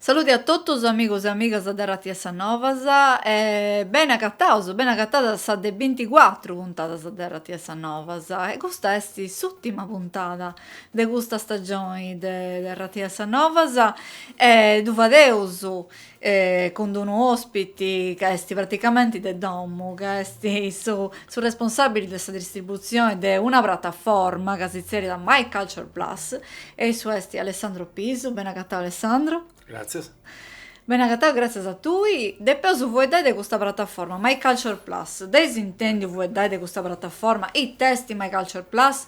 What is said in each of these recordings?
Saluti a totus amigos e amigas de Ràdiu 'e sa Novas e bene agatados, bene agatadas a sa de binticuatru puntadas de Ràdiu 'e sa Novas e custa est s'ùrtima puntada de custa stagioni de Ràdiu 'e sa Novas e ddu fadeus cun d'unu ospiti ca est praticamenti de domu, ca est su responsabili de sa distribuzioni de una prataforma ca si tzeriat My Culture Plus e issu est Alessandro Pisu. Beni agatau Alessandro. Gratzias. Beni agatau gratzias a tui. Depeus fueddai de custa prataforma, My Culture Plus. Dd'eis intendiu fueddai de custa prataforma? It'est My Culture Plus?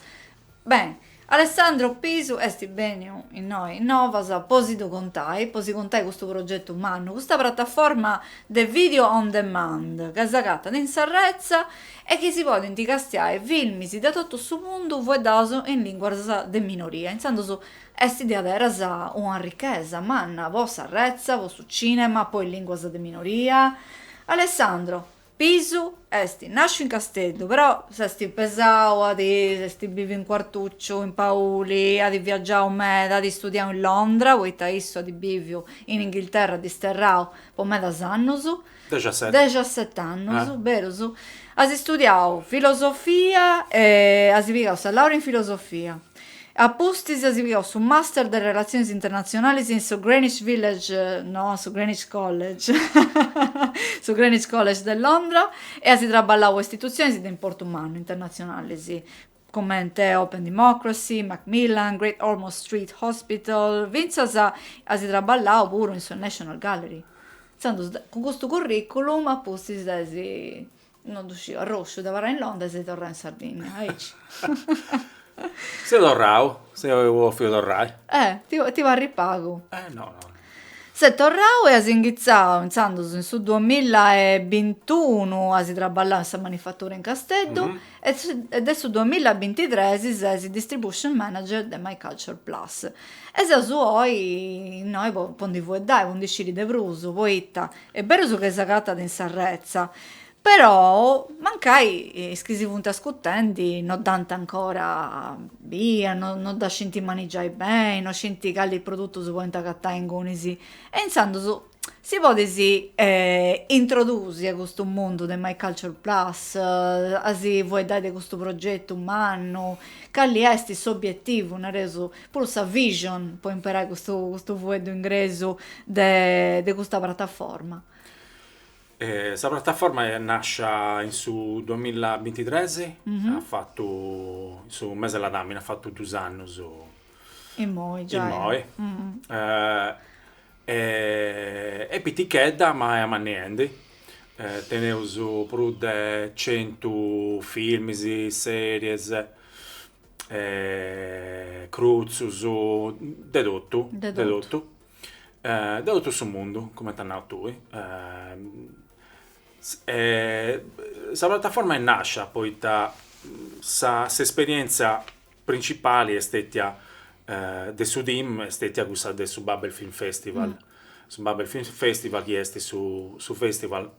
Beni, Alessandro Pisu est bèniu innoi in Novas po si ddu contai, po si contai custu progetu mannu, custa prataforma de video on demand ca s'agatat in s'arretza e chi si podint castiai filmis de totu su mundu fueddaus in lìnguas de minoria, intzandus est diaderus una richesa manna po s'arretza, po su cìnema, po is lìnguas de minoria. Alessandro, Pisu est nàsciu in Casteddu, però s'est pesau, at biviu in Quartucciu, in Pauli, at viagiau meda, at istudiau in Londra, poita issu at biviu in Inghilterra, disterrau po medas annus, Dexaseti. dexaset'annus, berus, at istudiau filosofia e as pigau sa laura in filosofia. A pustis as pigau su Master de Relatziones Internatzionales in su Greenwich Village, no, su Greenwich College, su Greenwich College de Londra, e as traballau po istitutziones de importu mannu internatzionales, comente Open Democracy, Macmillan, Great Ormond Street Hospital, fintzas as traballau puru in su National Gallery. Intzandus, cun custu curriculum, a pustis de si No ddu sciu, arrosciu de abarrai in Londra ses torrau in Sardigna, aici. Seu torrau, apu bòfiu torrai. Eh, ti parit pagu. Eh no no. Ses torrau e as inghitzau intzandus in su duamilla e bintunu as traballau in sa manifatura in Casteddu e e de su duamilla e bintitres ses distribution manager de My Culture Plus e seus oi innoi po ndi fueddai, po ndi sciri de prus, poita Est berus ca s'agatat in s'arretza, però mancai is chi si funt ascutendi no dd'ant ancora bia, no dda scint manigiai beni, no scint cali produtus podint agatai ingunis, e intzandus si podis introdusi a custu mundu de My Culture Plus, a si fueddai de custu progetu mannu, cali est s'obietivu, nareus, puru sa vision po imperai custu custu fueddu ingresu de de custa prataforma. Sa prataforma est nascia in su duamilla bintitres, at fatu in su mese de ladàmini at fatu dus annus immoi giai est pitichedda ma est manniendi, teneus prus de centu filmis, series crutzus, de totu, de totu, de totu su mundu, comente as nau tui. Sa prataforma est nàscia poita sa s'esperièntzia printzipali est stètia de su team est stètia cussa de su Babel Film Festival, su Babel Film Festival chi est su su festival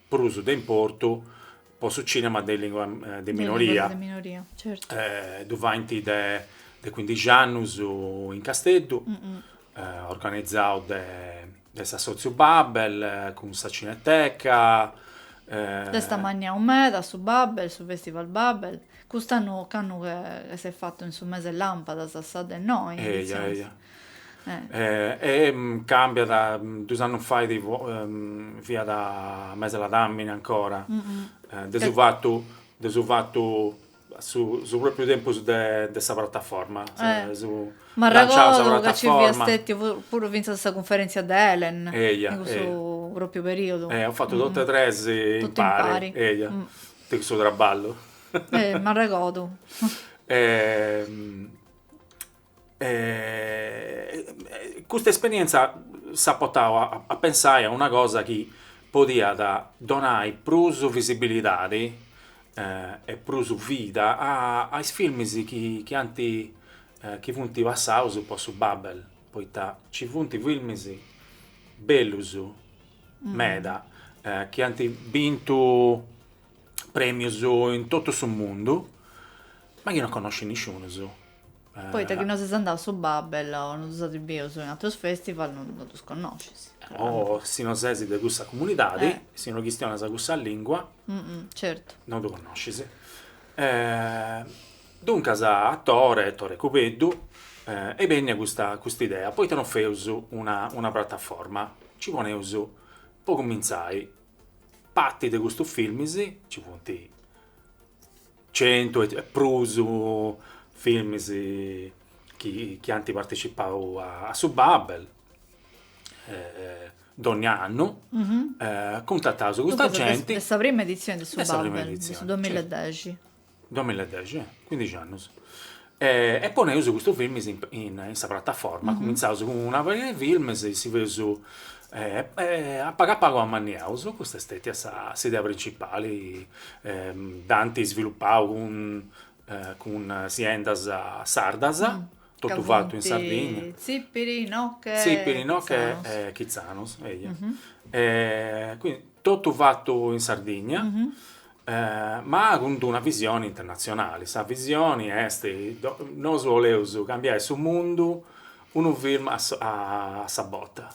prus de importu po su cinema de lìngua de minoria, ddu faint de cuindixi annus in Casteddu, organizau de s'assòtziu Babel cun sa Cineteca. S'est ammanniau meda su Babel, su Festival Babel, cust'annu, candu s'est fatu in su mes'e lampadas, sa de noi, E càmbiat, duus annus fait fiat mes'e ladàmini ancora, de su fatu, de su fatu, su pròpriu tempus de sa prataforma, su lanciau sa prataforma. Puru fintzas sa cunferèntzia de ELEN, in cussu pròpriu perìodu. Eia, eus fatu totu e tres impari, eia, de cussu traballu. M'arregordu. custa esperienza s'at portau a pensai a una cosa chi podiat donai prus visibilidadi e prus vida a is filmis chi ant chi funt passaus po su Babel, poita nci funt filmis bellus meda chi ant bintu premius in totu su mundu, ma chi non connoscit nisciunus Poita chi no ses andau a su Babel o no ddus as bius in atrus festival no ddus connoscis. O si no ses de cussa comunidadi, si no chistionas cussa lìngua, no ddus connoscis. Duncas a Tore, Tore Cubeddu, est bènnia custa idea, poita no feus una prataforma, nci poneus, po cumintzai, parti de custus filmis, nci funt centu e prus filmis chi ant partecipau a su Babel, dònnia annu cuntataus custa genti. De sa prima editzioni de su Babel, de su duamilla e dexi. Duamilla e dexi, cuindixi annus. E poneus custu filmis in sa prataforma, cumintzaus cun una pariga 'e filmis, si feus, a pagu a pagu amanniaus, custa est stètia s'idea printzipali, dd'ant isvilupau cun cun siendas sardas, totu fatu in Sardigna, Tzipiri, Noche, Tzipiri, Noche e Chitzanos, cuindi totu fatu in Sardigna, ma cun d'una visioni internatzionali. Sa visioni est, nosu 'oleus cambiai su mundu unu film a sa bota.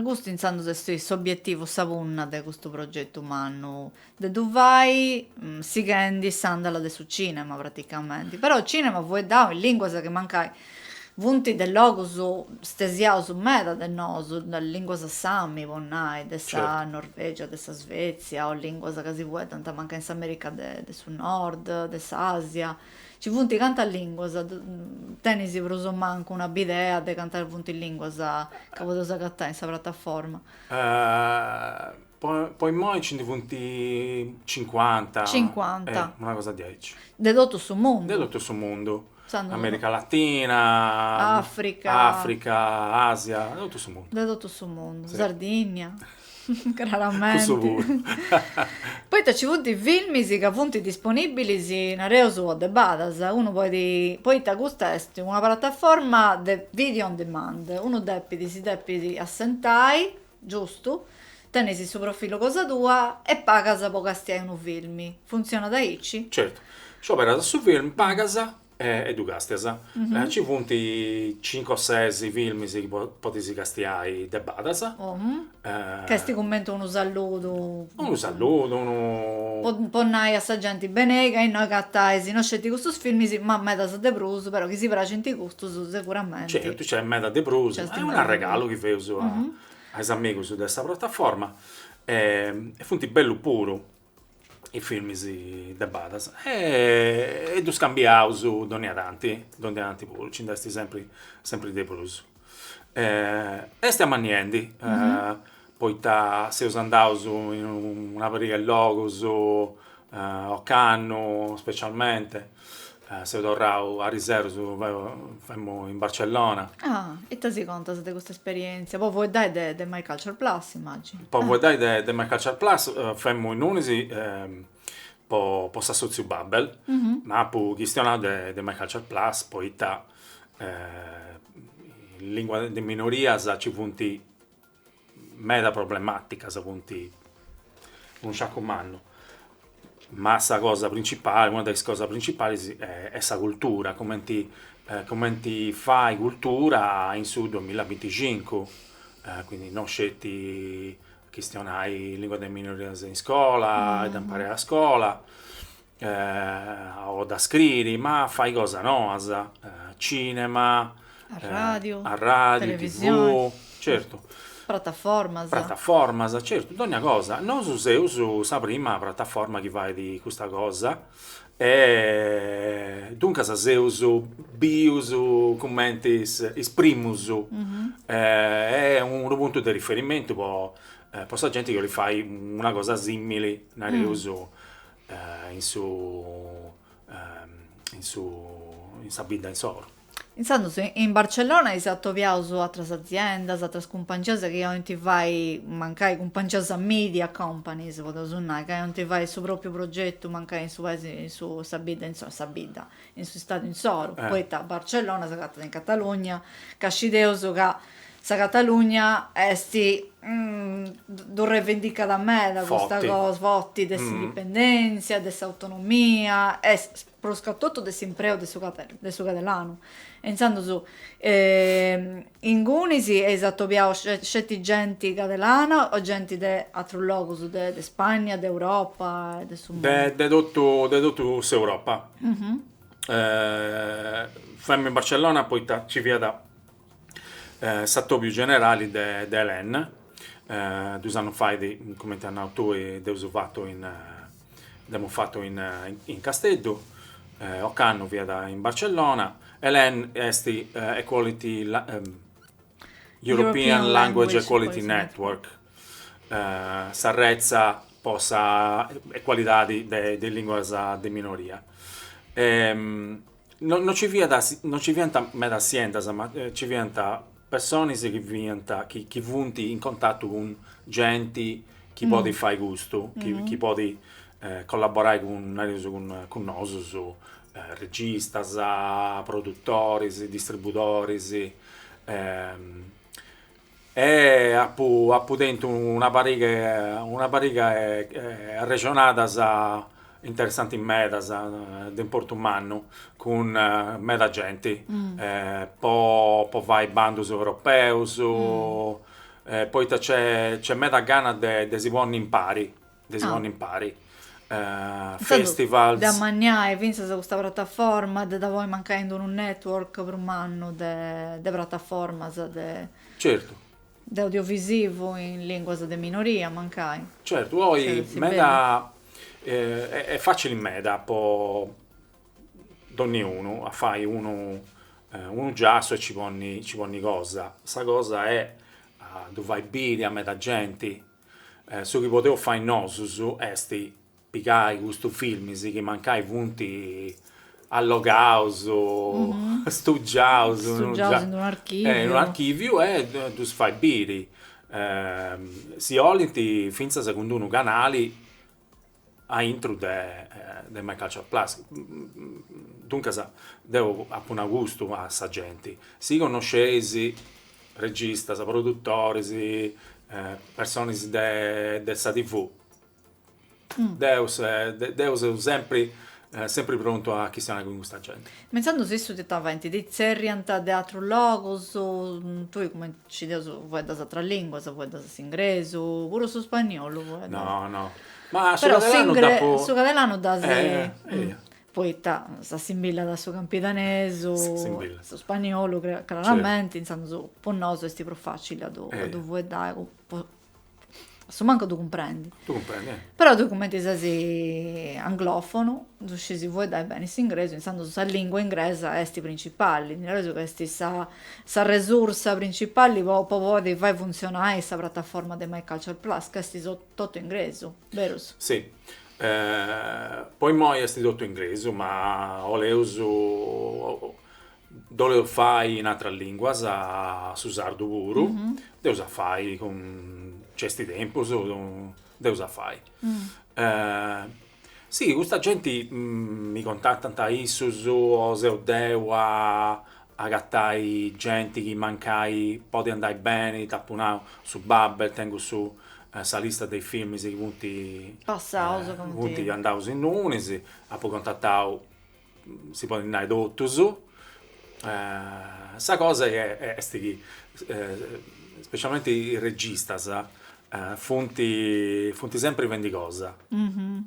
Custu intzandus est s'obietivu, sa punna de custu progetu mannu, de ddu fai sighendi s'andala de su cinema praticamenti, però cinema fueddau in linguas chi mancai Funt de logus stesiaus meda de nosu, de lìnguas sami, po nai, de sa Norvègia, de sa Svetsia, o lìnguas ca si fueddant mancai in s'Amèrica de su Nord, de s'Àsia. Nci funt cantas lìnguas, tenis prus o mancu una bidea de cantas funt lìnguas ca podeus agatai in sa prataforma? Po imoi nci ndi funt cincuanta, una cosa diaici. De totu su mundu? De totu su mundu. Amèrica Latina, Àfrica, Àfrica, Àsia, de totu su mundu. De totu su mundu, Sardigna, craramenti. Cussu puru. Poita nci funt filmis ca funt disponìbilis, nareus, o de badas, unu podit, poita custa est una prataforma de video on demand, unu depit, si depit assentai, Giustu, tenis su profilu cosa tua e pagas po castiai unu film. Funtzionat aici? Certu. Scioberas su film, pagas e ddu castias. Nci funt cincu o ses films chi podis castiai de badas. Ca est cumenti unu salludu. Unu salludu, unu. Po nai a sa genti benei ca innoi agatais no sceti custus filmis ma medas de prus, però chi si praxant custus seguramenti. Certu, nc'est meda de prus. Est unu arregalu chi feus a is amigus de sa prataforma e funt bellus puru is filmis de badas e ddus cambiaus dònnia tanti, dònnia tanti puru, nci nd'est sempri sempri de prus. Est amanniendi, poita seus andaus in una pariga 'e logus, ocannu specialmente, seu torrau ariseru femu in Barcellona. Ah, ita si contas de custa esperientzia, po fueddai de de My Culture Plus imàginu. Po fueddai de de My Culture Plus femu innunis po po s'assotziu Babel, ma apu chistionau de de My Culture Plus poita in lìngua de minorias nci funt meda problemàticas, funt unu sciacu mannu, ma sa cosa printzipali, una de is cosas printzipales est sa cultura, cumenti cumenti fai cultura in su duamila binticincu, quindi non sceti chistionai lìngua de minorias in iscola, a dda imparare a iscola o da scriri ma fai cosas noas, cinema, arradiu, televisioni, certu, prataformas, prataformas, certu, dogna cosa, nosu seus sa prima prataforma chi fait custa cosa e duncas seus bius cumenti is primus e unu puntu de riferimentu po sa genti chi 'olit fai una cosa simili, nareus, in su in su in sa bidda insoru. Intzandus in Barcellona eis atobiaus àteras aziendas, àteras cumpangias chi 'olint fai, mancai cumpangias media companies podeus nai, ca 'olint fai su propriu progetu mancai in su paisi in su sa bidda, in sa bidda in s'istadu insoru, poita Barcellona s'agatat in Catalugna, ca scideus ca sa Catalugna est ddu revendicat meda custa cosa, forti, de s'indipendèntzia, de s'autonomia e prus ca totu de s'impreu de su catalanu e intzandus Ingunis eis atobiau sceti genti cadelana o genti de atrus logus, de Spagna, de Europa e de su mundu? De totu de totu s'Europa. Femus in Barcellona poita ci fiat s'atobiu generali de de ELEN, duus annus fai, cumenti as nau tui, dd'eus fatu in Dd'emus fatu in in Casteddu, ocannu fiat in Barcellona, ELEN est Equality European Language Equality Network, sa retza po sa ecualidadi de de is lìnguas de minoria. No no ci fiat no ci fiant medas aziendas, ma ci fiant personas chi fiant chi chi funt in contatu cun genti chi podit fai custu, chi chi podit collaborai cun, nareus, cun nosus, registas, produtoris, distribudoris E apu apu tentu una pariga una pariga 'e arrexonadas interessantis meda, de importu mannu, cun meda genti, po po fai bandus europeus, poita nc'est nc'est meda gana de de si ponni impari de si ponni impari. festivals. De ammaniai fintzas custa prataforma, de dda ponni mancai in unu network prus mannu de de prataformas de. Certu. De audiovisivu in linguas de minoria mancai. Certu, oi meda est fatzili meda po donniunu a fai unu unu giassu e nci ponni nci ponni cosa. Sa cosa est a ddu fai biri a meda genti Su chi podeus fai nosus est pigai custus filmis chi mancai funt allogaus, stugiaus, in unu archiviu e ddus fai biri, si 'olint fintzas cun unu canali a intru de de My Culture Plus, duncas deu apu nau custu a sa genti, si connosceis registas, produtoris, personis de de sa TV, deu deu seu sempri sempri prontu a chistionai cun custa genti. Ma intzandus issus ti faint ti tzerriant de atrus logus, tui cumenti scideus fueddas atras lìnguas, fueddas s'ingresu, puru su spagnolu fueddas. No, no. Ma su catalanu dd'apu. Su catalanu dd'as. Poita s'assimbillat a su campidanesu, a su spagnolu, craramenti, intzandus po nosu est prus facili a ddu fueddai, a su mancu ddu cumprendi. Ddu cumprendi, eh. Però tui cumenti ses anglòfonu, ddu scis fueddai beni s'ingresu, intzandus sa lìngua ingresa est principali, nareus ca est sa sa resursa principalli po po podi fai funtzionai sa prataforma de MyCulture Plus, ca est totu ingresu, berus? Si, po immoi est totu ingresu, ma 'oleus ddu 'oleus fai in atras lìnguas, su sardu puru, ddeus a fai candu nc'est tempus, ddeus a fai. Si, custa genti mi contatant issus o seu deu a agatai genti chi mancai podit andai beni, dd'apu nau, su Babel, tengu su sa lista de is filmis chi funt andaus innunis, apu contatau si podit nai totus, sa cosa est chi specialmenti is registas funt funt sempri fendi cosa,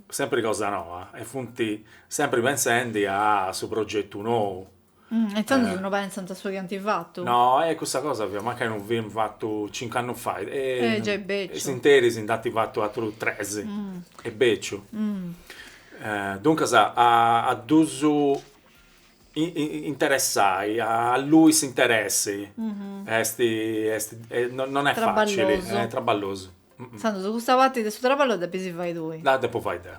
sempri cosa noa e funt sempri pentzendi a su progetu nou. E intzandus no pentzant a su chi ant fatu. No, e cussa cosa fiat, mancai unu film fatu cincu annus fait, e s'interis nd'ant fatu atrus tres, e beciu Duncas a ddus interessai, allui s'interessi est non est facili, est traballosu. Intzandus custa parti de su traballu dda depis fai tui. Dda depu fai deu.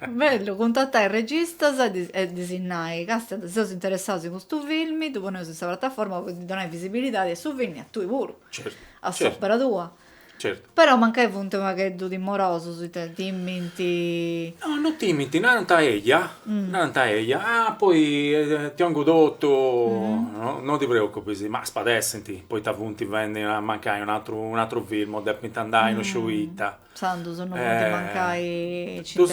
Bellu, cuntatai registas e ddis nai, Càstia, seus interessaus in custu filmi, ddu poneus in sa prataforma po ddi donai visibilidadi a su filmi e a tui puru, a s'opera tua. Certu. Però mancai funt pagheddu timorosus ita timint? No, no timint, narant eja, narant eja, ah poi ti 'ongu totu, no ti preocupis, ma spadessint, poita funt fendi a mancai un atru un atru film o depint andai no sciu ita. Intzandus no funt mancai. Ddus.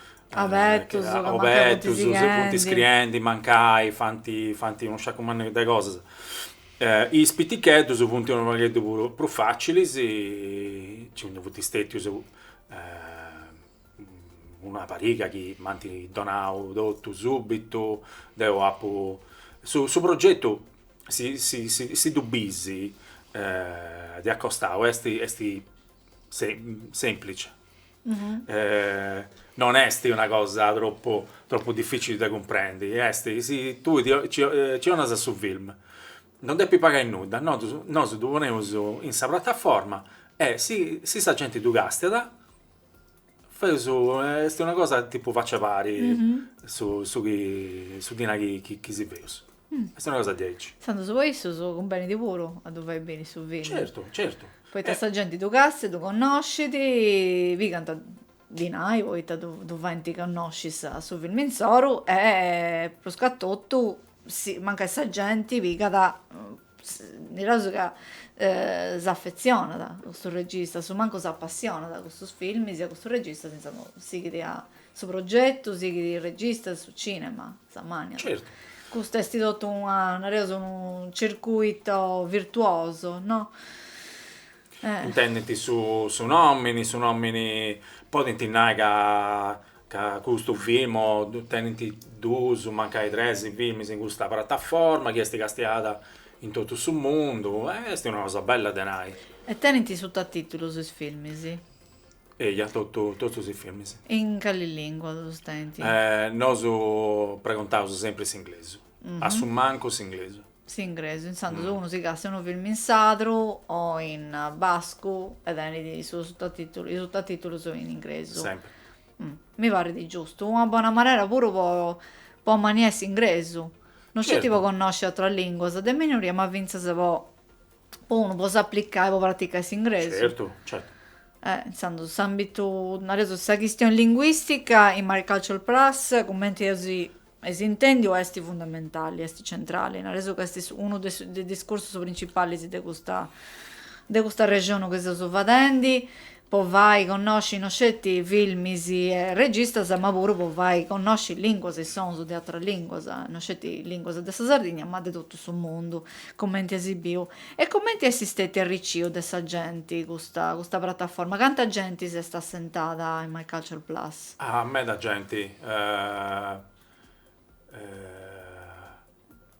Abetus, ca mancai funt iscriendi. Abetus, funt iscriendi, mancai, fant, fant unu sciacu mannu de cosas. Is piticheddus funt unu pagheddu prus prus facilis, nci ndi funt stètius una pariga chi m'ant donau totu subitu, deu apu, su su progetu, si si si ddu bis, de acostau, est est semplici. non est una cosa troppu troppu difficili de cumprendi, est chi si tui ci 'onas su film non depi pagai nudda, nosu nosu ddu poneus in sa prataforma e si si sa genti ddu castiat feus est una cosa tipu facci a pari su su chi su dinai chi si feus Est una cosa diaici. Intzandus po issus cumbenit puru a ddu fai beni su fini. Certu, certu. Poita sa genti ddu castiat, ddu connoscit, pigant dinai poita ddu faint connosci su filmu insoru e pruscatotu mancai sa genti pigat, naraus ca s'affetzionat a custus registas, su mancu s'appassionat a custus filmis e a custus registas, intzandus sighit su progetu, sighit is registas, su cinema. S'ammanniat. Certu. Custu est totu una, nareus, unu circuito virtuoso, no? Intendint su su nomini, su nomini, podint nai ca ca custu film o tenint duus, mancai tres filmis in custa prataforma chi est castiada in totu su mundu e est una cosa bella de nai. E tenint sutatìtulus is filmis? Eja totu, totu is filmis. E in cali lingua ddos tenint? Nosu pregontaus sempri s'inglesu, a su mancu s'inglesu. S'inglesu, intzandus unu si castiat unu filmu in sardu o in bascu e tenit is sutatìtulus in inglesu. Sempri. Mi parrit giustu, una bona manera puru po po ammanniai s'inglesu, no sceti po connosci atras linguas de minoria ma fintzas po po unu po s'aplicai po praticai s'ingresu. Certu, certu. Eh, intzandus s'ambitu, nareus, sa chistioni linguistica in MyCulture Plus, cumenti eus eis intendiu, est fundamentali, est centrali, nareus ca est unu de is discursus principalis de custa de custu arrexonu chi seus fadendi, po fai connosci no sceti filmis e registas ma puru po fai connosci lìnguas e sonus de atras lìnguas, no sceti lìnguas de sa Sardigna ma de totu su mundu, cumenti est biu e cumenti est stetiu arricciu de sa genti custa custa prataforma, canta genti s'est assentada in MyCulture Plus? Ah meda genti,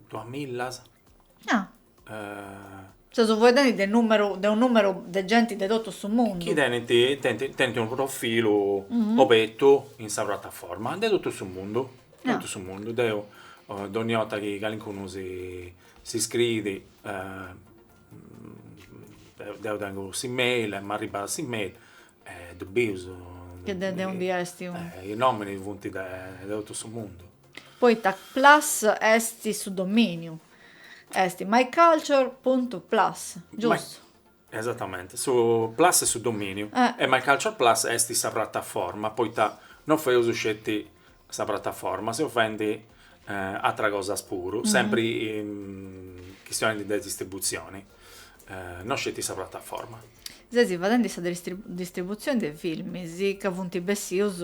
duas millas. Ah Seus fueddendi de numeru de unu numeru de genti de totu su mundu. Chi tenint tenint tenint unu profilu obertu in sa prataforma de totu su mundu, de totu su mundu. Deu dogni 'orta chi calincunu si s'iscriit deu tengu s'e-mail e m'arribat s'e-mail e ddu biu. Chi de de undi est. Is nominis funt de totu su mundu. Poita plus est su dominiu, est myculture.plus, giustu? Esatamente, su plus est su dominiu e myculture.plus est sa prataforma, poita non feus sceti sa prataforma, seus faendi atras cosas puru, sempri chistionendi de distributzioni, non sceti sa prataforma. Ses fadendi sa distributzioni de filmis ca funt bessius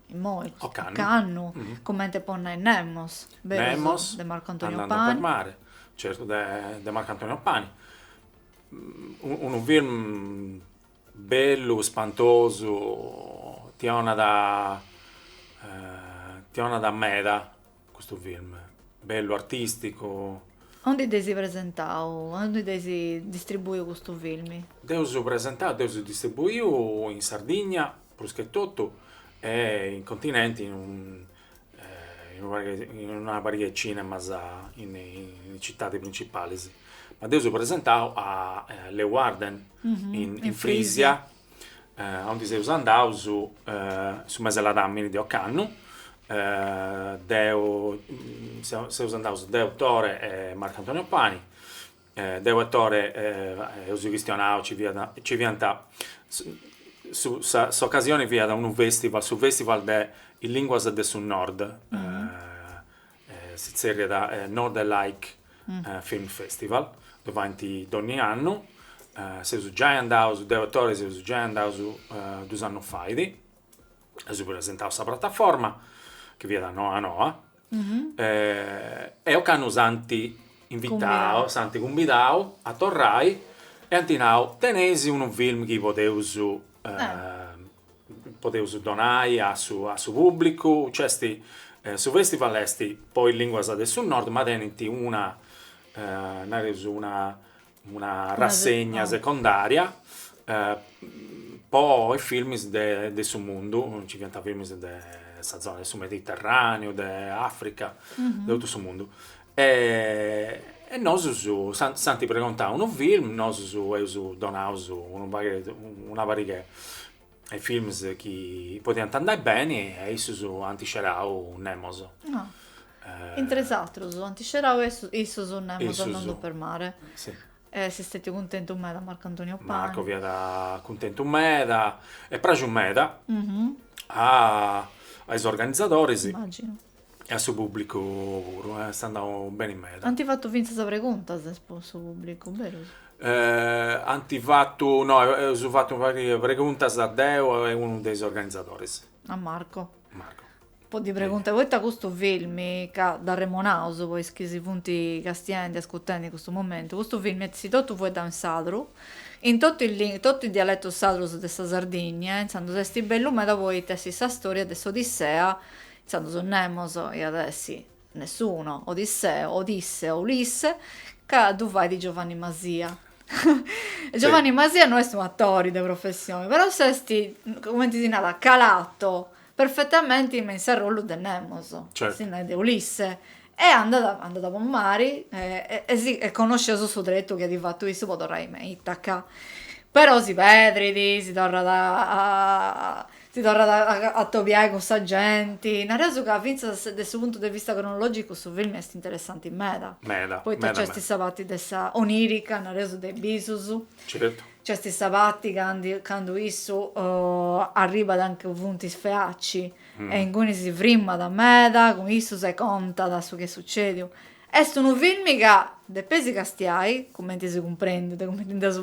Immoi, ocannu, comente po nai Nemos, Nemos de Marco Antonio Pani. Andando per mare, certu de Marco Antonio Pani. Unu film bellu, spantosu, ti 'onat ti 'onat meda Custu film bellu artisticu. Ondi dd'eis presentau? Ondi dd'eis distribuiu custu film? Dd'eus presentau, dd'eus distribuiu in Sardigna prus che totu e in continenti in in una pariga 'e cinemas in is citadis principalis. Ma dd'eus presentau a Leeuwarden in Frisia aundi seus andaus su mese 'e ladamini de ocannu deu seus andaus deu Tore e Marco Antonio Pani deu e Tore eus chistionau fiat nci fiant s'ocasioni fiat unu festival su festival de is linguas de su nord Si tzerriat Northern Lights Film Festival, ddu faint donni annu, seus giai andaus, deu e Tore seus giai andaus dus annus fait, eus presentau sa prataforma, chi fiat noa noa, e ocannu s'ant invitau, s'ant cumbidau a torrai e ant nau, teneis unu film chi podeus podeus donai a su a su pùblicu, nc'est, su festival est po is lìnguas de su Nord ma tenent una nareus una una rassegna secondària po is filmis de su mundu, nci fiant filmis de sa zona de su Mediterraneu, de Africa, de totu su mundu E nosus s'ant pregontadu unu film, nosus eus donau unu p una pariga 'e films chi podiant andai beni e issus ant scerau Nemos. Intre is atrus ant scerau issus Nemos Andando per mare. Si. E est stètiu cuntentu meda Marco Antonio Pani. Marco fiat cuntentu meda, est praxiu meda a is organizadoris. Immagino. E a su pubblicu puru, eh, est andau beni meda. Ant fatu fintzas preguntas po su pubblicu, berus? Eh, ant fatu, no, eus fatu una pariga de preguntas deu e unu de is organizadoris. A Marco. Marco. Po ddi preguntai, poita custu filmi, ca dd'arremonaus po is chi si funt castiendi, ascurtendi in custu momentu, custu filmi est totu fueddau in sadru, in totu is lin, totu is dialetus sadrus de sa Sardinnia, intzandus esti bellu meda poita est sa storia de s'Odissea Intzandus Nemos iat essi nessuno, Odisseo, Odisse o Ulisse, chi ddu fait Giovanni Masia. Giovanni Masia no est unu atori de professioni, però s'est, cumenti si narat, calato perfetamenti me in s'arrollu de Nemos, si narat de Ulisse, e andat, andat po mari e si, e connoscit su tretu chi at fatu issu po torrai me Itaca, però si pedrit, si torrat a Si torrat a a tobiai cun sa genti, nareus ca fintzas de su puntu de vista cronologicu su filmi est interessanti meda, Meda, poita meda nc'est meda. sa parti de sa onirica, nareus de bisus, Certu. nc'est sa parti candi candu issu arribat anca funt is Feaci e inguni si frimmat meda cun issus e contat su chi est sucediu. Est unu filmi ca depis si castiai, cumenti si cumprendit, cumenti ndi seus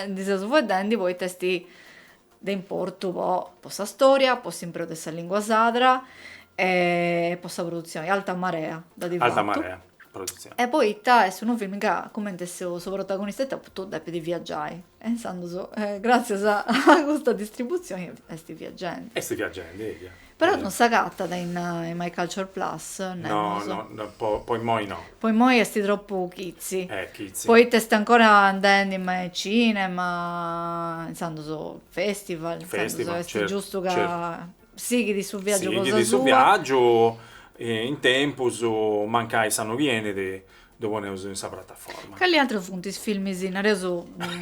ndi seus faeddendi, poita est de importu po po sa storia, po s'impreu de sa lìngua sadra e po sa produtzioni, Alta Marea dd'at fatu. Alta Marea produtzioni. E poita est unu filmu ca cumenti su su protagonista etotu depit viaggiai e intzandus gratzias a custa distributzioni est viagendi. Est viagendi, eia. Però non s'agatat in MyCulture Plus, naraus. No, no, po po immoi no. Po immoi est tropu chitzi. Eh, chitzi. Poita est ancora andendi in cinema, intzandus festival, intzandus est giustu ca sighit su viaggiu cosa sua. Sighit su viaggiu, in tempus mancai s'annu chi 'enit Ddu poneus in sa prataforma. Cali atrus funt is filmis nareus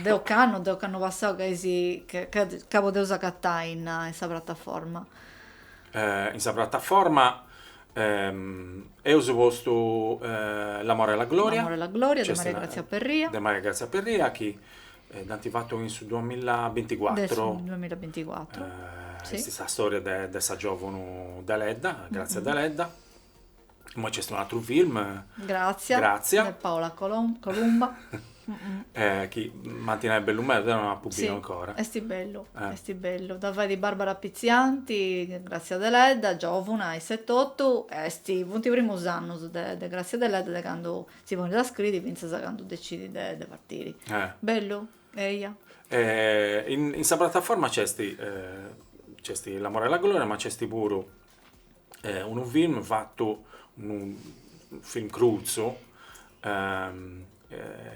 de ocannu, de s'annu passau ca is ca podeus agatai in sa prataforma? In sa prataforma eus postu L'amore e la gloria. L'amore e la gloria de Maria Grazia Perria. De Maria Grazia Perria chi est fatu in su duamilla binticuatru. De su duamilla binticuatru, si. Est sa storia de sa giovuna Deledda, Grazia Deledda. Poi c'est un atru film. Grazia. Grazia. De Paola Colom- Columba. eh, chi m'ant nai bellu meda, deu non dd'apu biu sì, ancora. Esti bellu, eh. esti bellu. Dda fait Barbara Pizzianti, Grazia Deledda, giovuna, iss'etotu, esti, funt i primus annus de, de Grazia Deledda de candu si ponit a scriri fintzas a candu decidit de, de partiri. Eh. Bellu, eia. Eh, in, in sa prataforma c'esti, eh, c'esti L'amore e la gloria, ma c'esti puru unu film fatu, unu film crutzu,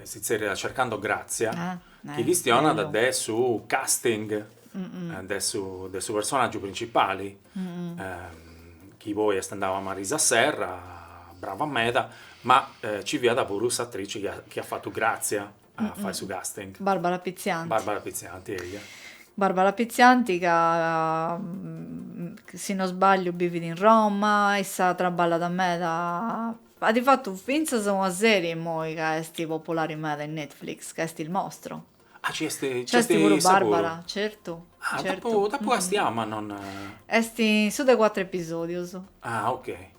si zerriat Cercando Grazia, chi chistionat de su casting de su de su personàgiu principali, chi poi est andau a Marisa Serra, brava meda, ma nci fiat puru s'atrici chi at fatu Grazia a fai su casting. Barbara Pizzianti. Barbara Pizzianti, eia. Barbara Pizzianti ca si no sbagliu bivit in Roma, issa traballat meda, at fatu fintzas una serie immoi ca est populari meda in Netflix, ca est Il Mostro. Ah, ci est, ci est puru issa puru? Barbara, certu. Ah, dd'apu dd'apu castiau ma non. Est in su de cuatru episodius. Ah, okay.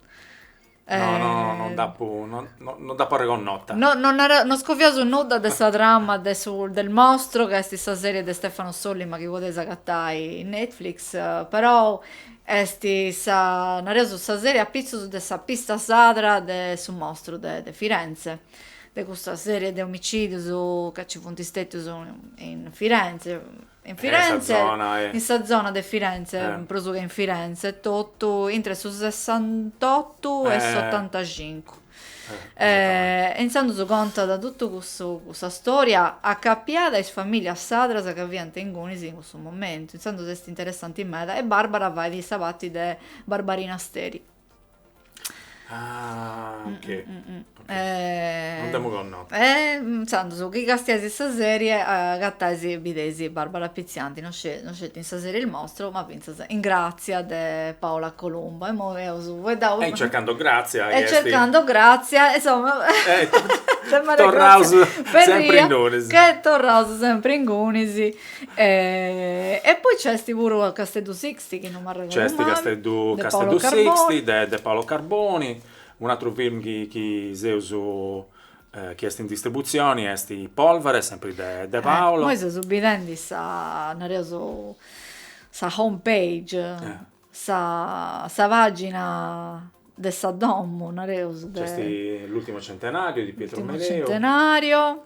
No, no, non dd'apu, non, non dd'apu arregonnota. No, non nau, non scoviaus nudda de sa trama de su, del mostro, ca est sa serie de Stefano Sollima chi podeis agatai in Netflix, però est sa, nareus, sa serie apitzus de sa pista sadra de su mostru de, de Firenze, de custa serie de omicidius ca ci funt stetius in Firenze, In Firenze, in sa zona de Firenze, prus che in Firenze etotu, intre su sessantotu e s'otantacincu. E intzandus contat totu cussa storia acapiada a is famìlias sadras ca fiant ingunis in cussu momentu. Intzandus est interessanti meda e Barbara fait sa parti de Barbarina Steri. Ah, ok. Mm, mm, mm, mm. okay. Eh, non demo conno. Eh, intzandus, chi castiais custa serie, agatais, bideis Barbara Pizzianti, non sceti, non sceti in sa serie Il Mostro, ma fintzas in Grazia de Paola Colombo. E immoi nd'eus fueddau... E cercando Grazia... E cercando Grazia, insomma... Eh, torraus sempre ingunis. Che torraus sempre ingunis. E, e poi c'esti puru Casteddu Six, C'esti Casteddu Casteddu Sixti de de Paolo Carboni, un'atru film chi chi seus chi est in distributzioni est Polvere sempri de de Paolo. Imoi seus bidendi sa nareus sa home page sa sa pagina de sa domu nareus de. C'esti L'ultimo centenario di Pietro Mereu. L'ultimo centenario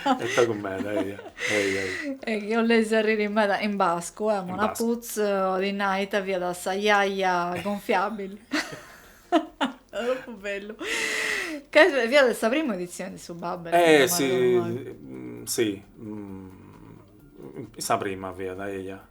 De pagu meda, eia, eia, eia. E chi 'olleis arriri meda in bascu, Amona Putz, bolit nai ita fiat sa jaja gonfiabili. Tropu bellu. Ca fiat de sa prima editzioni de su Babel. Eh, si, si, sa prima fiat, eia.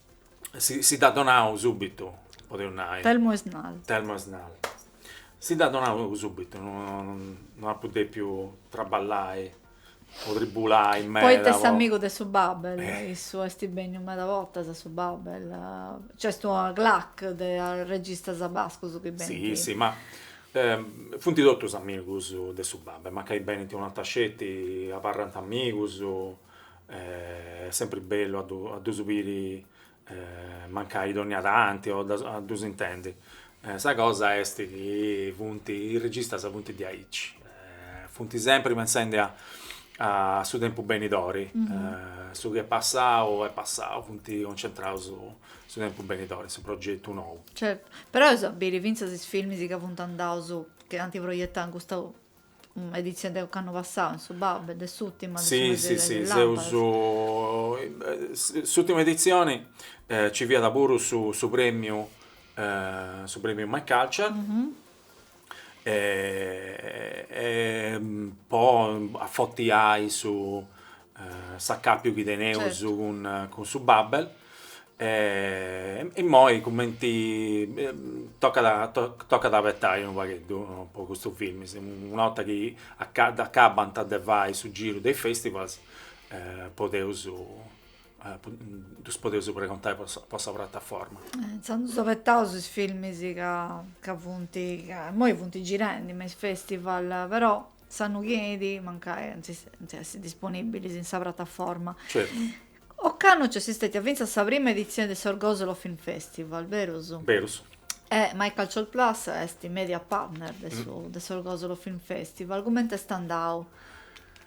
si si dd'at donadu subitu, podeus nai. Telmo Esnal. Telmo Esnal. Si dd'at donadu subitu, no apu depiu traballai o tribulai meda. Poita est amigu de su Babel, issu est benniu meda bortas a su Babel, nc'est una clac de arregistas bascus chi benint. Si si ma funt totus amigus de su Babel, mancai benint un'orta sceti abarrant amigus est sempri bellu a a ddus biri mancai dònnia tanti o a ddus intendi, sa cosa est chi funt, is registas funt diaici, funt sempri pentzendi a a su tempus benidori, su chi est passau est passau, funt concentraus su tempus benidori, su progetu nou. Certu, però eus a biri fintzas is filmis chi funt andaus, chi ant proietau in custa editzioni de ocannu passau in su Babel de s'ultima si si si seus s'ultima edizioni ci fiat puru su su premiu su premiu my culture e po afotiai su s'acàpiu chi teneus cun su Babel e immoi cumenti tocat a abetai unu pagheddu po custus filmis, una 'orta chi dd'acabant de fai su giru de is festivals podeus ddus podeus pregontai po sa prataforma. Intzandus abetaus is filmis ca funt, immoi funt girendi me is festivals però S'annu chi enit mancai ant a essi disponìbilis in sa prataforma. Ocannu nc'est stètia fintzas sa prima editzioni de s'Orgosolo Film Festival, berus? Berus. E My Culture Plus est mèdia partner de su de s'Orgosolo Film Festival. Cumenti est andau?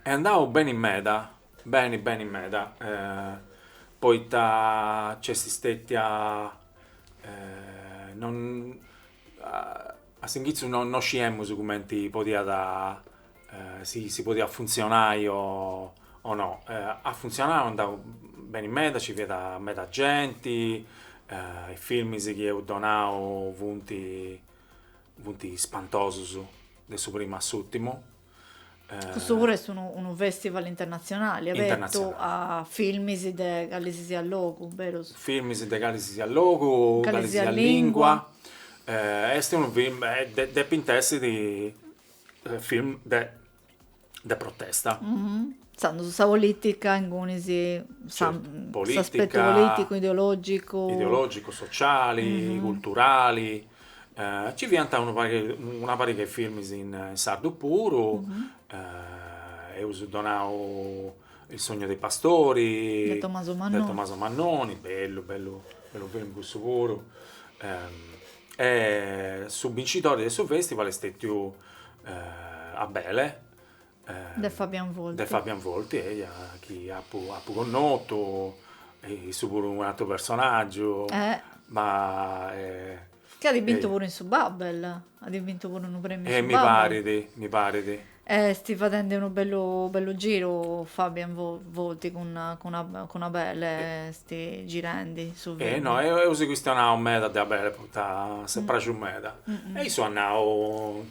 Est andau beni meda, beni beni meda, poita nc'est stètia non A s'inghitzu no no sciemus cumenti podiat si si podiat funtzionai o o no. At funtzionau, est andau beni meda, nci fiat meda genti, is filmis chi eus donau funt funt spantosus, de su primu a s'ùrtimu Custu puru est unu, unu festival internatzionali abertu a filmis de calesisiat logu, berus? Filmis de calesisiat logu, calesisiat lingua, est unu film, depint essi film de de protesta. Intzandus sa politica ingunis sa s'aspetu politicu, ideologicu. Ideologicu, sociali, culturali. Nci fiant una pariga 'e filmis in sardu puru, eus donau il sogno dei pastori, de Tommaso Mannoni, de Tommaso Mannoni, bellu bellu bellu film cussu puru e su bincitori de su festival est stètiu Abele De Fabian Volti. De Fabian Volti, eia, chi apu, apu connotu, issu puru un'atru personaggiu, eh. ma... Eh, chi at bintu puru in su Babel, at bintu puru unu premiu in su Babel. Eh, mi parit, mi parit. Est fadendi unu bellu, bellu giru Fabian Volti cun, cun, cun Abele, est girendi su film. Eh, no, eus chistionau meda de Abele, poita si est praxiu meda. E issu at nau,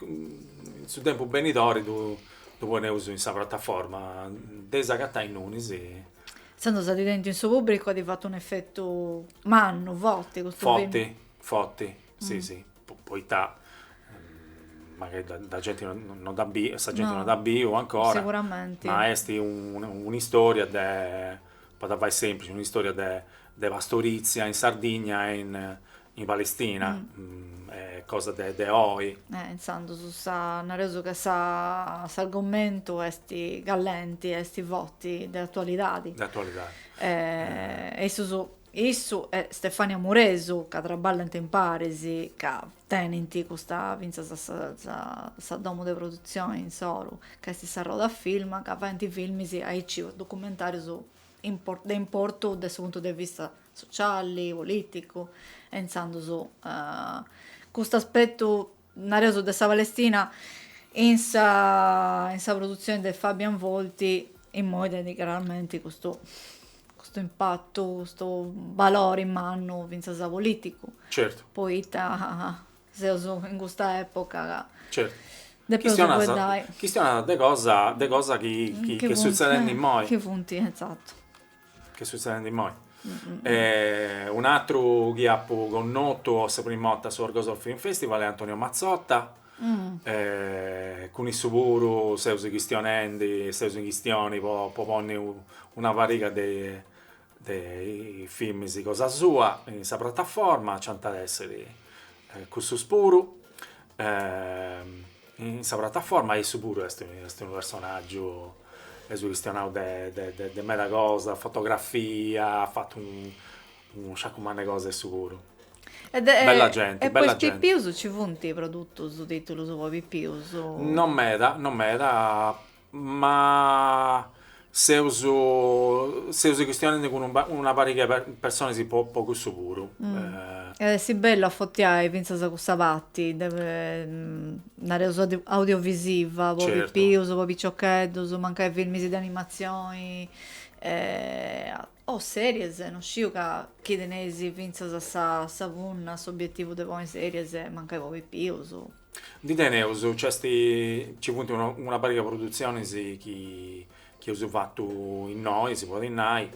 In su tempus benidori ddu poneus in sa prataforma de is, de agatai ingunis. Intzandus at tentu in su pùbricu at fatu un'efetu mannu, forti custu filmu? Forti, forti, si si, poita mancai sa genti non dd'at biu, sa genti non dd'at biu ancora, ma est un'istoria de Po dda fai sèmplici un'istòria de pastorizia in Sardigna e in Palestina, est cosa de oi. Intzandus nareus ca s'argomentu est callenti, est forti, de atualidadi. De atualidadi. E issus, issu e Stefania Muresu, ca traballant imparis, ca Tenint custus fintzas sa domo de produtzione insoru ca est sa Roda Film ca faint filmis aici o documentarius de importu de su puntu de vista sociali, politicu e intzandus custu aspettu nareus de sa Palestina in sa in sa produtzione de Fabian Volti immoi tenit craramenti custu custu impattu, custu valori mannu fintzas politicu. Certu. Poita seus in custa epoca ca. Certu. Depeus fueddai. Chistionas de cosa, de cosa chi est sutzedendi immoi. Chi funt, esattu. Chi est sutzedendi immoi. Un'atru chi apu connotu po sa primu 'orta a su Orgosolfilmfestival est Antonio Mazzotta. e cun issu puru seus chistionendi, seus in chistioni po po ponni una pariga de de films cosa sua in sa prataforma, nc'ant a esser cussus puru in sa prataforma e issu puru est est unu personaggiu, eus chistionau de de de meda cosa, fotografia, at fatu unu sciacu manna 'e cosa issu puru Bella genti, bella genti. E po is pipius nci funt produtus, titulus po is pipius? Non meda, non meda, ma seus seus chistionendi cun una pariga 'e personas po po cussu puru. At essi bellu afortiai fintzas cussa parti de nareus audiovisiva po pipius, po piciocheddus, mancai filmis de animatzioni e O series, no sciu ca chi teneis fintzas sa punna, s'obietivu de poni series, mancai po pipius. Ndi teneus, nc'est, nci funt una pariga produtzionis chi chi eus fatu innoi, si podit nai,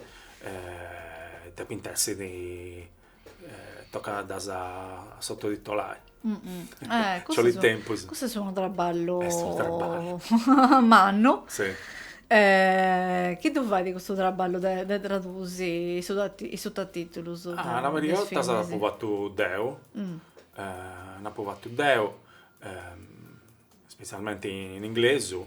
depint essi Tocat a ddas sototitolai. Nc'olit tempus. Cussu est unu traballu mannu. Chini ddu fait custu traballu de tradusi is sototitulus? Una pariga 'e 'ortas dd'apu fatu deu, dd'apu fatu deu, spetzialmenti in inglesu.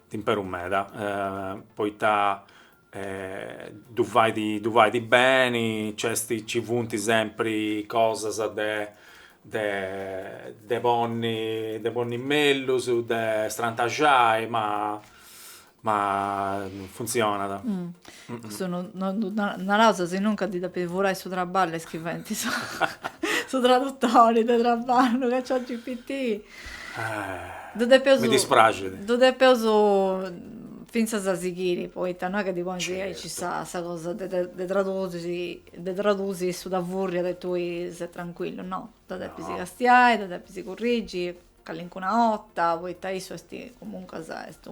Dd'imperu meda, poita ddu fait beni, nci funt sempri cosas de ponni mellus, de strantaxai, ma funtzionat. Custu non ddu naraus, si non ca ddi depis furai su traballu a is chi faint su tradutori de traballu, chat GPT. mi dispraxit. Ddu depeus fintzas sighiri, poita no est chi ddi ponis aici sa cosa de tradusi, de tradusi, issu dda fùrriat e tui ses trancuillu, no, dda depis castiai, dda depis currigi calincuna 'orta, poita issu est, comuncas, est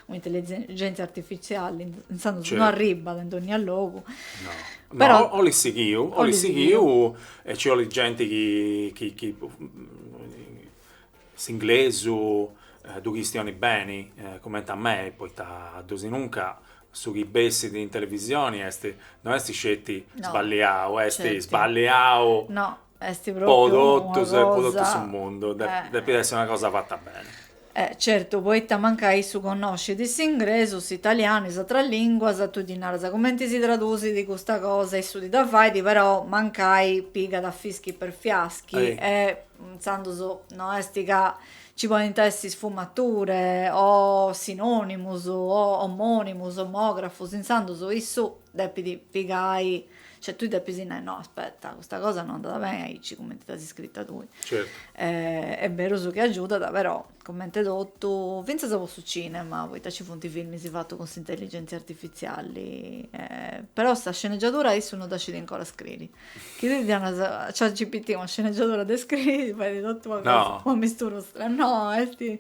Un'intelligèntzia artifitziali intzandus no arribbat in dònnia logu. No. Però. No, 'olit sighiu, 'olit sighiu e nci 'olit genti chi chi s'inglesu ddu chistionit beni, cumenti a mei, poita desinunca su chi bessit in televisioni no est sceti sballiau, est sballiau. No. Est pròpiu una cosa. su mundu, depit essi una cosa fata beni. Eh, certu, poita mancai issu connoscit s'ingresu, s'italianu, is atras lìnguas, tui ddi naras cumenti si tradusit custa cosa, issu ti dda fait, però mancai pigat fischi per fiaschi e intzandus no est ca nci podint essi sfumature o sinònimus o omònimus, omògrafus, intzandus issu depit pigai Cioè tui depis nai no aspetta custa cosa no andat beni aici cumenti dd'as scrita tui. Certu. Eh, est beru su chi agiudat però cumenti totu, fintzas po su cinema poita ci funt filmis fatus cun s'intelligèntzia artifitziali eh, però sa scenegiadura issu no dda scit ancora scriri. Chi tui ddi donas a ChatGPT una scenegiadura de scriri ti fait totu una cosa, No. una mistura strana, no est,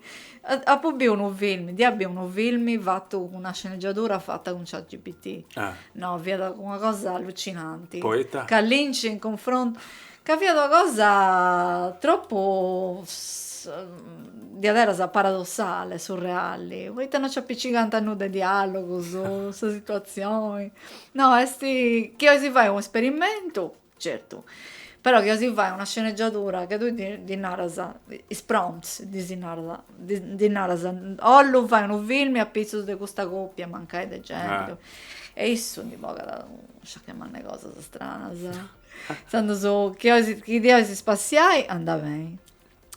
apu biu unu filmi, dd'ia biu unu filmi fatu cun una scenegiadura fata cun ChatGPT, Ah. No, fiat una cosa allucinanti. Poita? Ca Lynch in cunfrontu, ca fiat una cosa tropu diaderus paradossale, surreali, poita no nci apicigant nudda 'e dialogus, sa situatzioni. No, est chi 'ois fai u' esperimentu Certu, però chi 'ois fai una scenegiadura ca tui ddi naras, is prompts ddis narant, ddi naras, ollu fai unu filmi apitzus de custa còpia, mancai de genti, e issu ndi bogat unu sciacu mannu 'e cosas istranas, intzandus chi olis, chi ti 'olis spassiai, andat beni,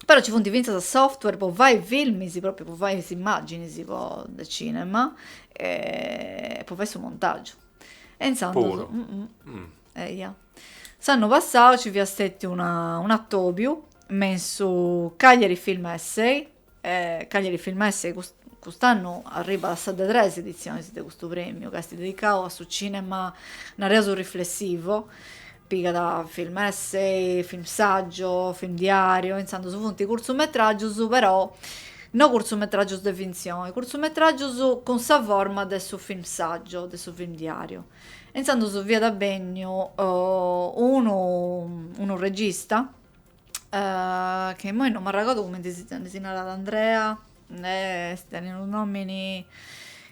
però nci funt fintzas software po fai filmis, pròpriu po fai is immàginis po de cinema e po fai su montàgiu e intzandus Eja. S'annu passau ci fiat stetiu una, un'atobiu me in su Cagliari Film Essay, Cagliari Film Essay cust'annu arribat a sa de tres editzionis de custu premiu ca est dedicau a su cinema, nareus riflessivo, pigat film essay, film saggio, film diario, intzandus funt curtzumetragius però no curtzumetragius de fintzioni, curtzumetragius cun sa forma de su film saggio, de su film diario. Intzandus fiat benniu unu unu regista chi immoi non m'arregordo cumenti si narat Andrea est unu nomini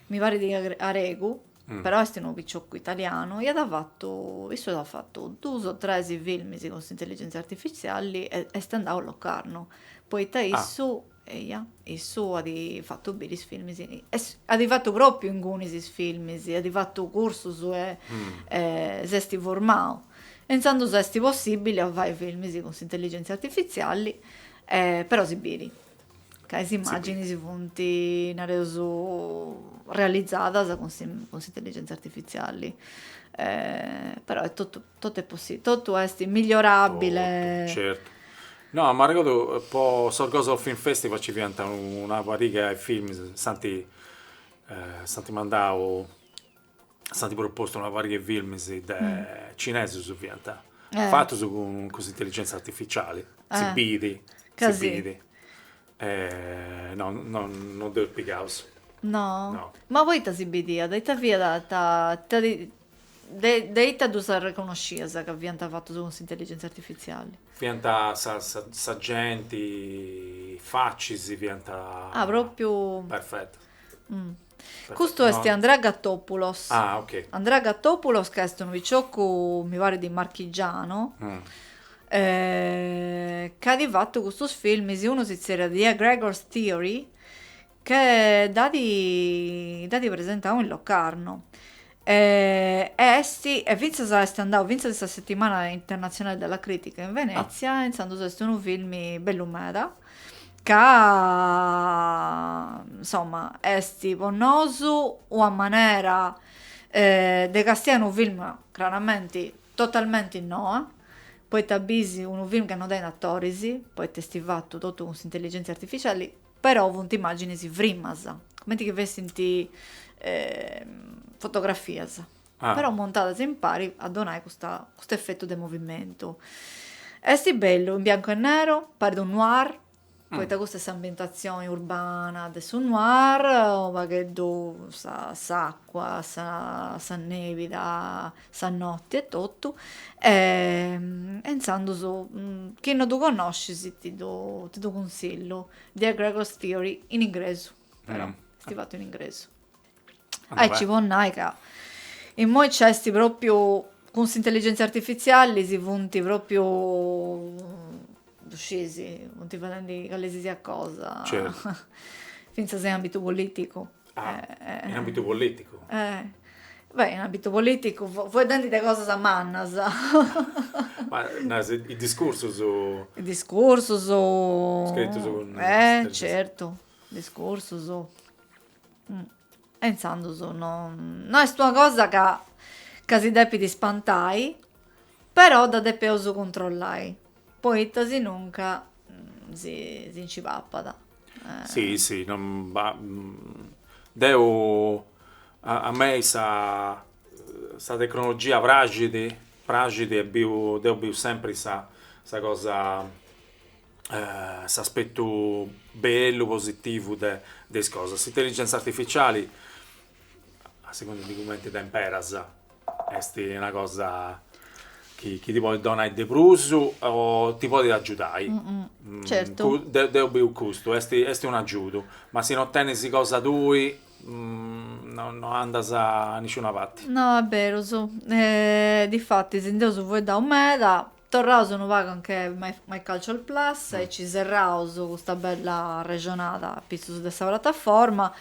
mi parit aregu, però est unu piciocu italianu, iat fatu, issu at fatu duus o tres filmis cun s'intelligentzia artifiziali e est andau a Locarno, poita issu Eja, issu at fatu biri is filmis, at fatu pròpiu ingunis is filmis, at fatu cursus e s'est formau. E intzandus est possìbili a fai filmis cun s'intelligèntzia artifitziali, però si biri ca is imàginis funt, nareus, realizadas cun s'intelligèntzia artifitziali, però est totu Totu est possibile, totu est migliorabile. Totu, certu. No, m'arregodu po su Sorgono Film Festival nci fiant una pariga 'e films, s'ant s'ant mandau, s'ant propostu una pariga 'e films de, cinesus fiant, fatus cun s'intelligenza artificiali, si biri, si biri Eh no no no dd'eus pigaus. No? No. Ma poita si bidiat? Ita fiat ta ita ti de de ita ddus arreconnoscias ca fiant fatus cun s'intelligentzia artifiziali? Fiant sa sa sa genti, is facis fiant Ah, propriu perfetas. Custu est Andrea Gattopulos. Ah ok. Andrea Gattopulos ca est unu piciocu mi parit di Marchigiano c'at fatu custus filmis, unu si zerriat The Eggregores' Theory ca dd'at presentau in Locarno E est, e fintzas est andau fintzas in sa Settimana internatzionale della critica in Venezia, intzandus est unu filmi bellu meda, ca insomma est po nosu una manera de castiai unu film craramenti totalmenti noa, poita bis unu film ca no tenit atoris, poita est fatu totu cun s'intelligentzia artificiali però funt immàginis frimas, cumenti chi fessint fotografias, però montadas impari a donai custa custu efetu de movimentu. Est bellu, in biancu e nero, parit unu noir, poita custa est s'ambientatzioni urbana de su noir, u' pagheddu sa s'acua, sa sa nebida sa notti e totu e intzandus chi no ddu connoscis ti ddu cunsillu The Eggregores' Theory in ingresu però esti fatu in ingresu aici po nai ca immoi nci esti propriu cun s'intelligentzia artifizialli si funti propriu ddu scisi funti fadendi callesisiat cosa fintzas in ambitu politicu Ah, eh, in ambitu politicu. Eh. Beh, in ambitu politicu, fueddendi de cosas mannas. Ma naras i discursus... I discursus... Scritus cun... Eh, certu, discursus. Mm. E intzandus no, no est una cosa ca, ca si depit ispantai, però dda depeus cuntrollai. Poita sinunca si nci papat. Si, si, deu a mei sa tecnologia praxit, praxit e biu, deu biu sempri sa cosa, s'aspetu bellu, positivu de is cosas. S'intelligenza artificiali, a segundu de cumenti dda imperas, Est una cosa chi ti podit donai de prus o ti podit agiudai. Certu. Deu biu custu, est est un agiudu, ma si no tenis cosa tui no andas a nisciuna parti. No, est berus. Difatis, nd'eus fueddau meda, Torraus unu pagu a anche My Culture Plus e ci serraus custa bella arrexonada a pitzus de sa prataforma,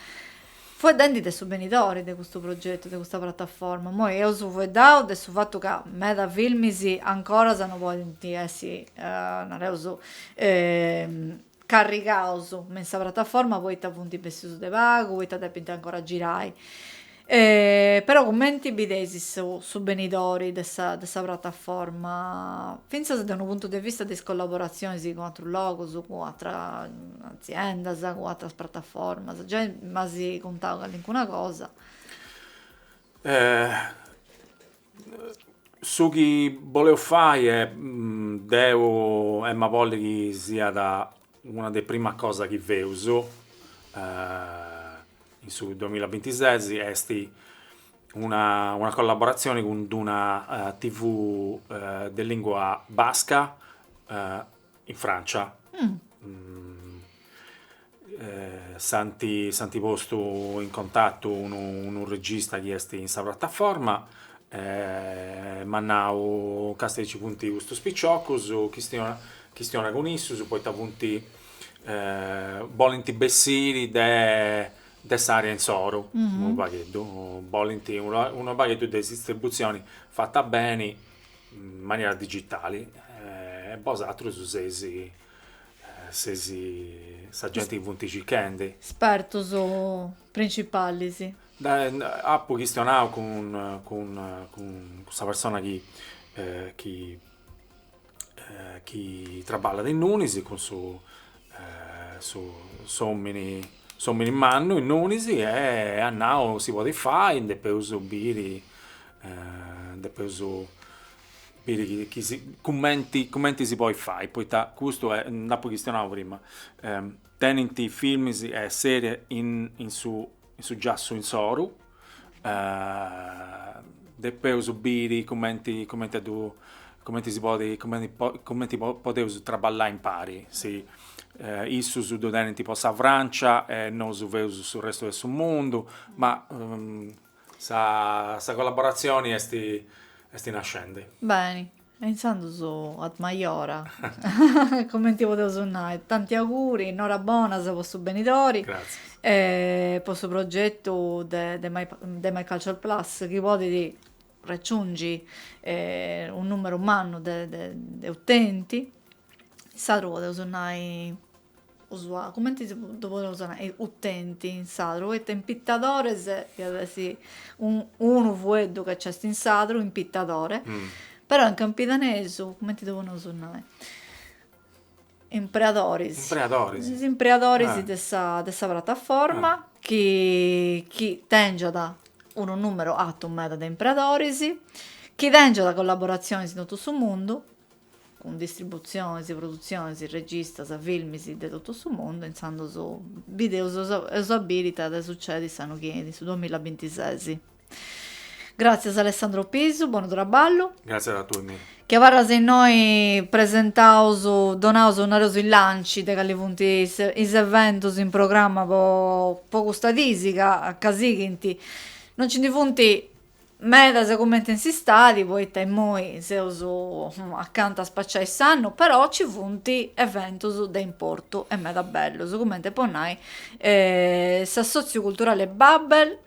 fueddendi de su benidori de custu progetu, de custa prataforma. Immoi eus fueddau de su fatu ca meda filmis ancoras no podint essi, nareus, carrigaus me in sa prataforma poita funt bessius de pagu poita depint ancora girai e però cumenti bideis su su benidori de sa de sa prataforma fintzas de unu puntu de vista de is collaborazionis cun atrus logus cun atra aziendas cun atras prataformas giai m'as cuntau calincuna cosa Su chi boleus fai e deu em'a bolli chi siat una de prima cosa chi feus in su duamilla e bintises est una una collaboratzioni cun d-una TV de lìngua basca in Francia, si ant postu in contatu unu regista chi est in sa prataforma e m'at nau, Càstia chi ci funt custus piciocus, chistiona cun issus poita funt bolint bessiri de s'àrea insoru unu pagheddu, bolint unu pagheddu de is distributzioni fata beni in manera digitali e bosatrus seis seis sa genti chi funt circhendi. Espertus principalis. Apu chistionau cun cun cun sa persona chi chi chi traballat innunis cun su su s'omini S'òmini mannu innonis e at nau si podit fai, depeus biri, depeus biri chi si, cumenti cumenti si podit fai, poita custu est, nd'apu chistionau prima, tenint filmis e serie in su in su giassu insoru Depeus biri cumenti cumenti a ddu cumenti si podit cumenti po cumenti po podeus traballai impari, si issus ddu tenint po sa Francia e nosu feus su restu 'e su mundu, ma sa sa collaboratzioni est est nascendi. Beni E intzandus ad maiora, cumenti podeus nai. Tanti auguri, norabonas po su benidori. Gratzias. E po su progetu de de MyCulture Plus chi podit raggiungi unu numeru mannu de de utenti. In sadru podeus nai. Usuali, cumenti ddu podeus nai, utenti in sadru, poita impitadores iat essi unu fueddu ca nc'est in sadru, impitadore, però in campidanesu, cumenti ddu podeus nai, impreadoris, impreadoris, is impreadoris de sa de sa prataforma chi chi tengiat unu numeru atu meda de impreadoris, chi tengiat collaboratzionis in totu su mundu cun distributzionis, produtzionis, registas, filmis de totu su mundu, intzandus bideus eus a biri ita at a sucedi s'annu chi enit su duamilla bintises. Gràtzias Alessandro Pisu, bonu traballu. Gràtzias a tui. Mira, chi abarras innoi presentaus, donaus, nareus is lancis de cali funt is eventus in programma po custas dis ca ca sighint. Non nci ndi funt medas cumenti in s'istadi poita immoi seus acanta a spaciai s'annu però ci funt eventus de importu e meda bellus cumenti po nai s'assòtziu culturali Babel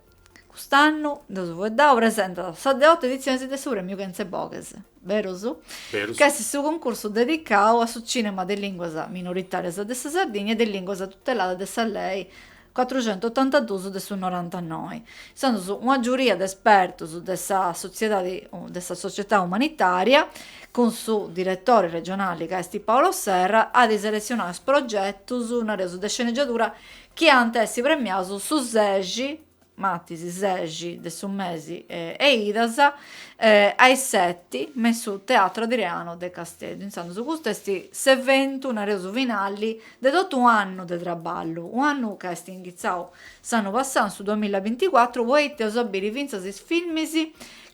cust'annu nd'eus fueddau presentat sa de otu editzioni de su premiu Kentzeboghes berus? berus ch'est su cuncursu dedicau a su cinema de lìnguas minoritàrias de sa Sardigna e de lìnguas tuteladas de sa lei cuatruxentotantaduus de su norantanoi, intzandus una giuria de espertus de sa sotziedadi de sa società umanitaria, cun su diretori regionali ca est Paolo Serra, at a seletzionai is progetus, nareus, de sceneggiadura chi ant essi premiaus su sexi, matis sexi, de su mesi 'e 'idas, a is seti, me in su Teatro Adriano de Casteddu, intzandus custu est s'eventu, nareus, finali De totu u' annu de traballu, u' annu ca est inghitzau s'annu passau, in su duamilla binticuatru, poita eus a biri fintzas is filmis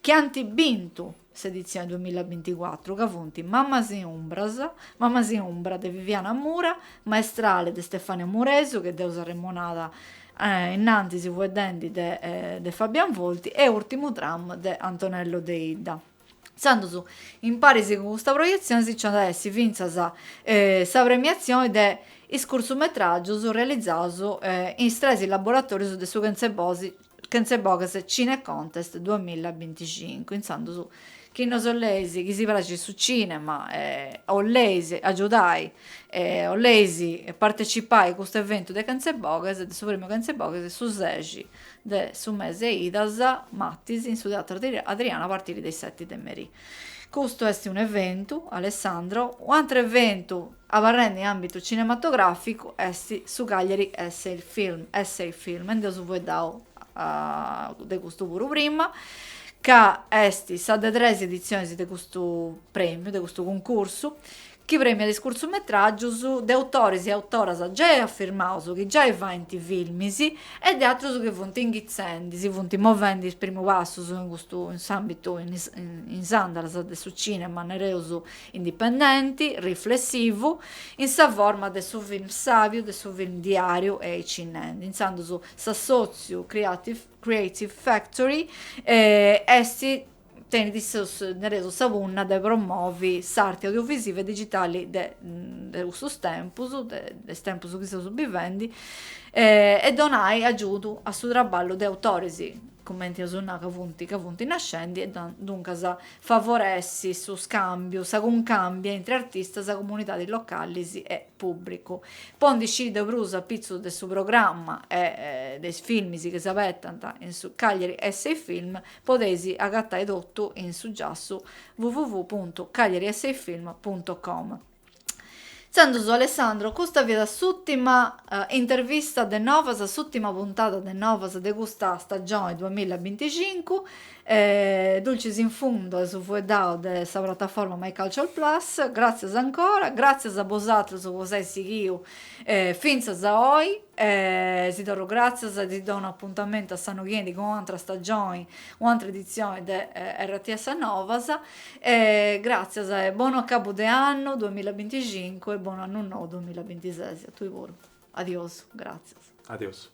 chi ant bintu s'editzioni duamilla binticuatru, ca funt Mamas in umbras, Mamas in umbra de Viviana Mura, Maestrale de Stefania Muresu, chi dd'eus arremonada innantis fueddendi de Fabian Volti, e Urtimu tram de Antonello Deidda. Intzandus, imparis cun custa proietzioni si nc'at a essi fintzas sa premiatzioni de is curtzumetràgius realizaus in is tres laboratòrius de su Kentzeboghes Cine Contest duamilla e binticincu. Intzandus, chi nos 'oleis chi si praxit su cinema e 'oleis agiudai e 'oleis partecipai custu eventu de Kentzeboghes, de su Premiu Kentzeboghes, su seixi de su mese 'e idas matis in su Teatro Adriano a partiri de is seti de merì. Custu est un'eventu, Alessandro, u'atru eventu abarrendi in àmbitu cinematogràficu est su Cagliari Essay Film, Essay Film, e nd'eus fueddau de custu puru prima, ca est sa de tres editzionis de custu prèmiu, de custu cuncursu, chi prèmiat is curtzumetràgius de autoris e autoras giai afirmaus chi giai faint filmis e de atrus chi funt inghitzendi, si funt movendi is primu passus in custu in s'àmbitu in s'andalas de su cìnema nareus indipendenti, riflessivu, in sa forma de su film sàbiu, de su film diàriu e aici nendi intzandus s'assòtziu Creative Factory est tenit nareus sa punna de promovi s'arte audiovisiva e digitali de de custus tempus, de de is tempus chi seus bivendi, e donai agiudu a su traballu de autoris, cumenti eus nau ca funt ca funt nascendi e duncas favoressi su scambiu, sa cuncàmbia intri artistas, comunidadis localis e pùbricu. Po ndi sciri de prus apitzus de su programma e de is filmis chi s'abetant in su Cagliari Essay Film, Podeis agatai totu in su giassu www puntu cagliariessayfilm puntu com. Intzandus Alessandro, custa fiat s'ùtima intervista de Novas, s'ùtima puntada de Novas de custa stagioni duamilla e binticincu. Dulcis in fundo eus fueddau de sa prataforma MyCulture Plus. Gràtzias ancora, gràtzias a bosatrus po s'ai sighiu Fintzas a oi, e si torru gràtzias e ti donu apuntamentu a s'annu chi 'enit cun un'atra stagioni, un'atra editzioni de RTS Novas, e gràtzias e bonu acabu de annu duamilla e binticincu e bonu annu nou duamilla e bintises a tui puru. Adiosu, gràtzias. Adiosu.